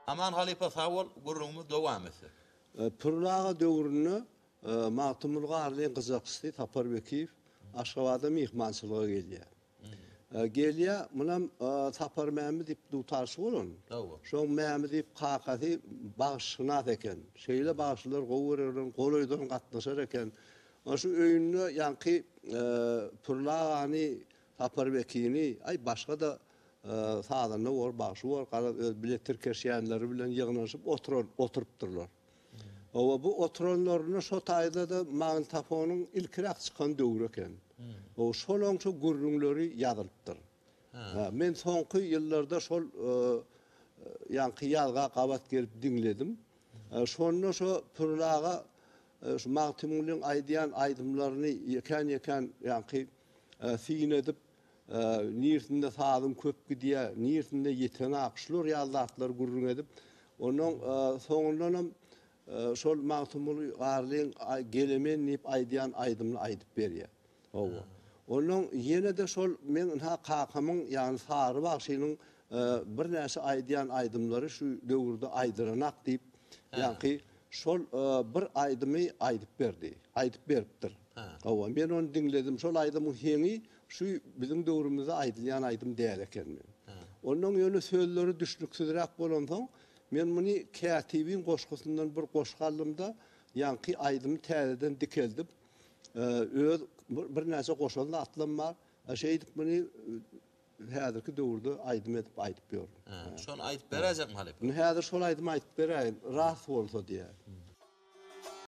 Aman halypa sag bol gürrüňimiz dowam etsin. Pürli aga döwründe Magtymguly Garlyň gyjakçysy Sapar Bekiýew Aşgabada myhmançylyga gelýär. Gelýär, munam Sapar Mämi diýip dutarçy bolan. Şoň Mämi diýip kakasy bagşyşynas eken. Şeýle bagşylar gowy görer bilen golaýdan gatnaşar eken. Onuň üçin öýünde ýaňky Pürli agany Sapar Wekili, aý, başga-da sazanda bor, bagşy bor, garaz, öz bilet tirkeşýänleri bilen ýygnanyşyp oturan, oturypdyrlar. Hawa, bu oturanlarynda şo taýda-da magnitofonyň ilkiräk çykan döwri eken. Hawa, şolaň şo gürrüňleri ýazylypdyr. Hä, men soňky ýyllarda şol ýaňky ýazga gabat gelip diňledim. Şonda şo Pürün aga şu Magtymgulyň aýdýan aýdymlaryny ýekän-ýekän ýaňky Syn edip, nirsinde sazyň köp gidýär, nirsinde ýeteňak, şular ýaly zatlary gürrüň edip, onnoň soňundanam şol Magtymguly Garlyň Gelemen diýip aýdýan aýdymyny aýdyp berýär. Hawa. Onnoň ýene-de şol meň ynha kakamyň, ýagny Sary bagşynyň birnäçe aýdýan aýdymlary şu döwürde aýdylanak diýip, ýaňky Şol bir aýdymy aýdyp berdi. Aýdyp beripdir. Hawa, men ony diňledim. Şol aýdymyň heňi şu biziň döwrümizde aýdylýan aýdym däl ekenmi? Onnoň ýöne sözleri düşnüksizräk bolansoň, men muny kätibiň goşgusyndan bir goşgy aldym-da, ýaňky aýdymy täzeden dikeldip, öz birnäçe goşan zatlam bar. Şeýdip muny Biz häzirki döwürde aýdym edip aýdyp ýör. Hä, şony aýdyp beräýjekmi halypa? Indi häzir şol aýdymy aýdyp beräýin, rast bolsa diýä.